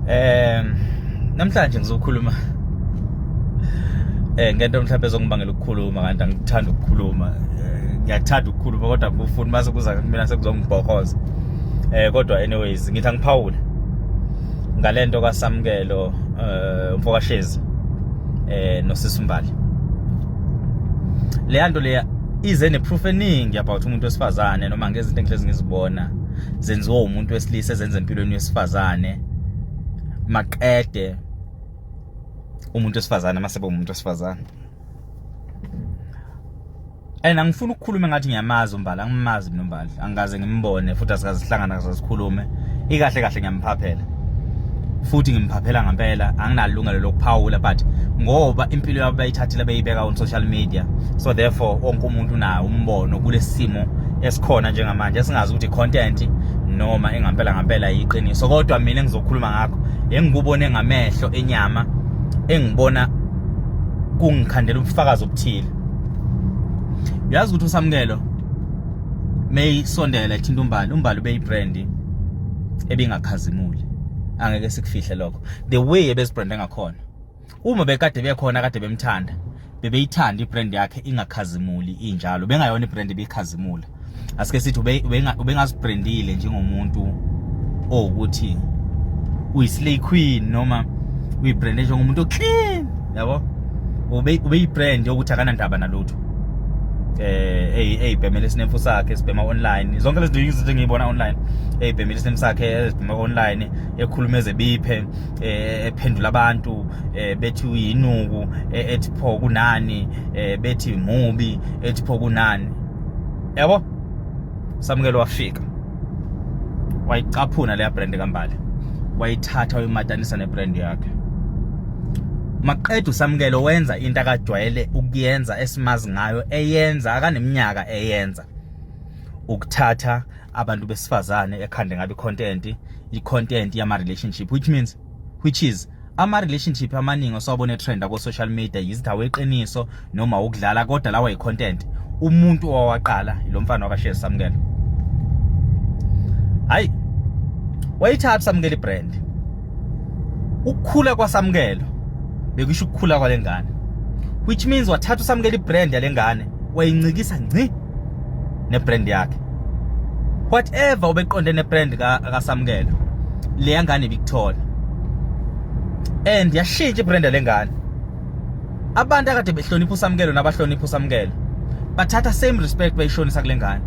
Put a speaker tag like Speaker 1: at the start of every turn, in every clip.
Speaker 1: Eh namhlanje ngizokhuluma eh ngento mhlawumbe ezongibangela ukukhuluma kanti angithanda ukukhuluma eh, ngiyathanda ukukhuluma kodwa ngifuna mase kuza kumina sekuzongibhokoza eh kodwa anyways ngithi angiphawule ngalento kaSamkelo eh umfokashezi eh nosisimbali leyanto leya ize neproof eningi about umuntu wesifazane noma ngezinto engihlezi ngizibona zenziwa umuntu wesilisa ezenza empilweni yesifazane maqede umuntu wesifazane masebe umuntu wesifazane and angifuni ukukhuluma ngathi ngiyamazi umbala angimazi mina umbala angikaze ngimbone futhi asikaze sihlangana kaze sikhulume ikahle kahle ngiyamphaphela futhi ngimphaphela ngampela anginalungelo lokuphawula but ngoba impilo yabo bayithathile beyibeka on social media so therefore wonke umuntu unayo umbono kulesimo esikhona njengamanje esingazi ukuthi content noma engampela ngampela yiqiniso kodwa mina engizokhuluma ngakho engikubone ngamehlo enyama engibona kungikhandela ubufakazi obuthile uyazi ukuthi usamukelo meyisondela ethinta umbali umbali ubeyibrandi ebingakhazimuli angeke sikufihle lokho the way ebezibrande ngakhona uma bekade bekhona kade bemthanda bebeyithanda ibrand yakhe ingakhazimuli injalo bengayona ibrand ebikhazimula asike sithi ubengazibrandile njengomuntu owukuthi uyislay queen noma uyibrande njengomuntu oclean yabo ubeyibrand yokuthi akanandaba nalutho eh eyibhemela isinemfu sakhe sibhema online zonke lezi izinto engiyibona online eyibhemela isinemfu sakhe ezibhema online ekhuluma ezebiphe eh, ephendula abantu eh, bethi uyinuku eh, ethi pho kunani bethi mubi ethi pho kunani yabo samukelo wafika wayicaphuna leya brand kambali wayithatha wayimatanisa nebrand yakhe maqeda usamukelo wenza into akajwayele ukuyenza esimazi ngayo eyenza akaneminyaka eyenza ukuthatha abantu besifazane ekhande ngabe content i content yama relationship which means which is ama relationship amaningi osawabona trend ko social media yizithawe iqiniso noma ukudlala kodwa lawa yicontent umuntu owaqala lo mfana wakashe samukela hayi wayithatha samukela ibrand ukukhula kwasamukelo bekusho ukukhula kwalengane which means wathatha usamukela ibrand yalengane wayincikisa ngci nebrand yakhe whatever ubeqonde nebrand kaSamkelo leya ngane ibikuthola and yashintsha ibrand lengane abantu akade behlonipha uSamkelo nabahlonipha uSamkelo bathatha same respect bayishonisa kulengane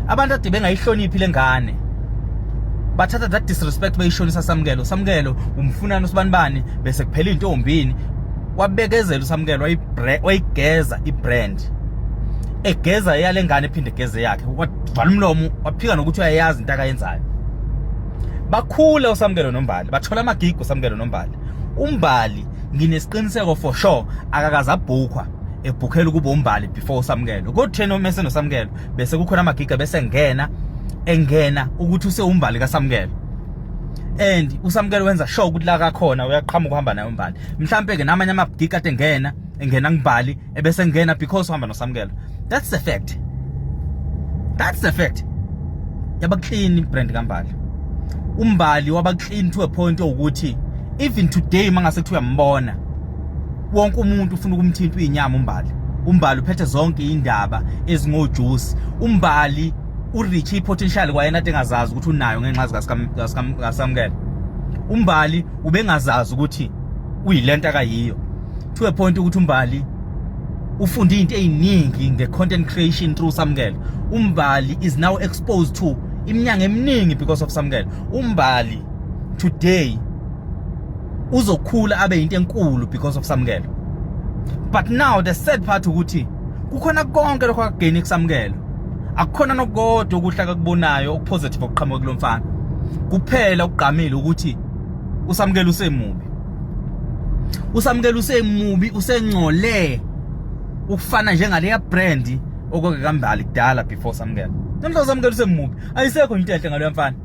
Speaker 1: abantu ade bengayihloniphi lengane bathatha that disrespect bayishonisa samkelo samkelo umfunana usibanibani bese kuphela intombini wabekezela usamkelo wayigeza ibrand umakoti egeza eyale ngane ephinde egeze yakhe wavala umlomo waphika nokuthi uyayazi into akayenzayo bakhule usamkelo nombali bathola amagigo usamkelo nombali umbali nginesiqiniseko for sure akakaze abhukwa ebhukhela ukuba umbali before usamkelo kotheni uma esenosamkelo bese kukhona amagiga bese ngena engena ukuthi usewumbali kasamkelo and usamkelo wenza sure ukuthi la kakhona uyaqhamuka uhamba naye umbali mhlampe ke namanye amagiga ade ngena engena ngibali ebese ngena because uhamba noSamkela that's the fact that's the fact yaba clean brand kaMbali umbali waba clean to a point ukuthi even today mangase kuthiwa uyambona wonke umuntu ufuna ukumthinta uyinyama umbali umbali uphethe zonke indaba ezingojuice umbali urich ipotential kwayena atengazazi ukuthi unayo ngenxa zikasamukela umbali ubengazazi ukuthi uyilento akayiyo to a point ukuthi umbali ufunde into eziningi nge content creation through samkelo umbali is now exposed to iminyanga eminingi because of samkelo umbali today uzokhula abe into enkulu because of samkelo but now the sad part ukuthi kukhona konke lokho akugeni kusamkelo akukhona nokodwa okuhle akakubonayo okupositive okuqhamuka kulomfana kuphela ukugqamile ukuthi usamkelo usemubi usamukela usemubi usengcole ukufana njengaleya brand okwake kambali kudala before samukela namhla samukela usemubi ayisekho into enhle ngaleyo mfana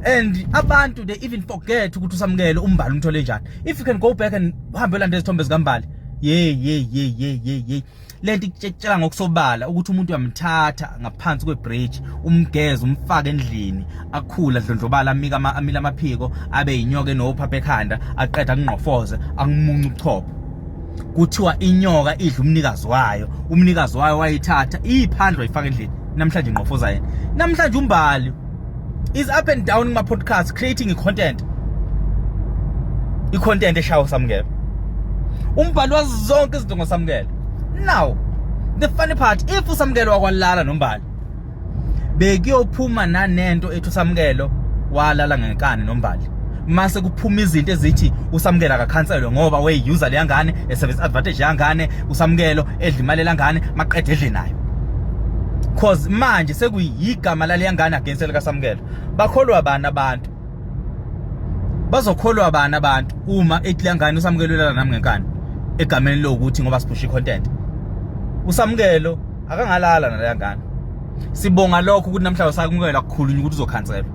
Speaker 1: and abantu they even forget ukuthi usamukele umbali umthole njani if you can go back and uhambe ulanda izithombe zikambali yey yey yey yey yey lento ikutshela ngokusobala ukuthi umuntu uyamthatha ngaphansi kwebridge umgeze umfake endlini akhula dlondlobala amika amila amaphiko abe yinyoka enophapha ekhanda aqeda kungqofoze angimunca ubuchopho kuthiwa inyoka idla umnikazi wayo umnikazi wayo wayithatha iphandle wayifaka endlini namhlanje ingqofoza yena namhlanje umbali is up and down kuma podcast creating content i content eshawo samukela umbhali wazi zonke izinto ngosamukela now the funny part if usamukelo wakwalala nombali bekuyophuma nanento ethi usamukelo walala ngenkani nombali mase kuphuma izinto ezithi usamukela akakhanselwe ngoba weyi-user leyangane esebenzisa advantage yangane usamukelo edla imali elangane maqeda edle nayo cause manje sekuyigama laleyangane against likasamukelo bakholwa bani abantu bazokholwa bani abantu uma ethi leyangane usamukelo ulala nami ngenkani egameni lokuthi ngoba siphusha i-content usamukelo akangalala naleyangane sibonga lokho ukuthi namhlanje usakumukela kukhulunywa ukuthi uzokhanselwa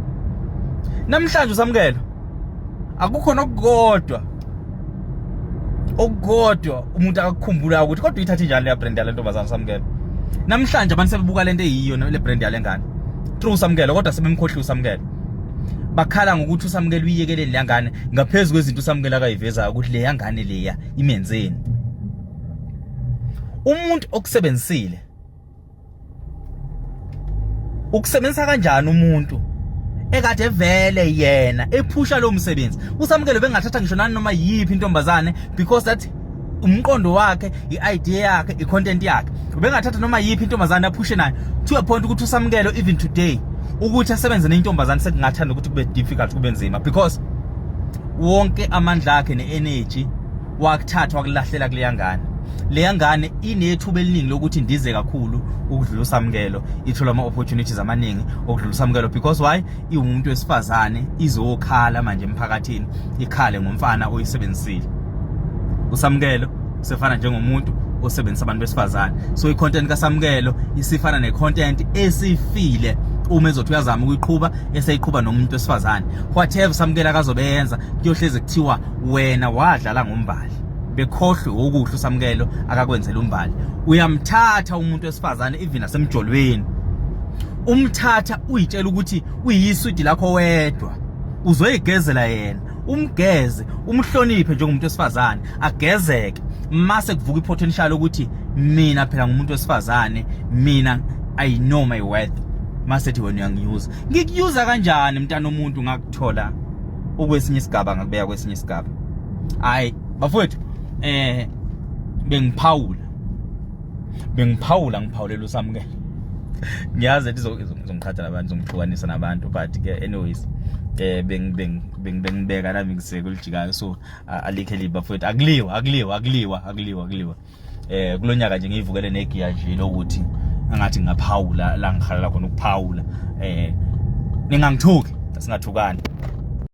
Speaker 1: namhlanje usamukela akukho nokukodwa okukodwa umuntu akakhumbulayo ukuthi kodwa uyithathe njani leya brand yale ntombazana usamukela namhlanje abantu sebebuka lento eyiyo le brand yale ngane true usamukela kodwa sebemkhohliwe usamukela bakhala ngokuthi usamukela uyiyekeleni leya ngane ngaphezu kwezinto usamukela akayivezayo ukuthi leya ngane leya imenzeni umuntu okusebenzisile ukusebenzisa kanjani umuntu ekade vele yena ephusha lo msebenzi usamukelo bengathatha ngisho nani noma yiphi intombazane because that umqondo wakhe i-idea yakhe i-content yakhe ubengathatha noma yiphi intombazane aphushe nayo to a point ukuthi usamukelo even today ukuthi asebenze nentombazane sekungathanda ukuthi kube difficult kube nzima because wonke amandla akhe ne-energy wakuthathwa kulahlela kuleya ngane leya ngane inethuba eliningi lokuthi ndize kakhulu ukudlula usamukelo ithola ama-opportunities amaningi okudlula usamukelo because why iwumuntu wesifazane izokhala manje emphakathini ikhale ngomfana oyisebenzisile usamukelo sefana njengomuntu osebenzisa abantu besifazane so i-content kasamukelo isifana ne-content esifile uma ezothi uyazama ukuyiqhuba eseyiqhuba nomuntu wesifazane whatever samukelo akazobe yenza kuyohlezi kuthiwa wena wadlala ngombali bekhohlwe okuhle usamkelo akakwenzela umbali uyamthatha umuntu wesifazane even asemjolweni umthatha uyitshela ukuthi uyiswidi lakho wedwa uzoyigezela yena umgeze umhloniphe njengomuntu wesifazane agezeke mase kuvuka ipotential ukuthi mina phela ngumuntu wesifazane mina i know my worth masethi wena uyangiuza ngikuyuza kanjani mntana omuntu ngakuthola ukwesinye isigaba ngakubeka kwesinye isigaba hayi bafowethu eh bengiphawula bengiphawula ngiphawulela usamukela ngiyazi ethi izongiqhatha nabantu izongihlukanisa nabantu but ke anyways eh bengibeka nami ngiseke elijikayo so alikhe liba futhi akuliwa akuliwa akuliwa akuliwa akuliwa eh kulonyaka nje ngiyivukele negiya nje lokuthi angathi ngaphawula la ngihalela khona ukuphawula eh ningangithuki singathukani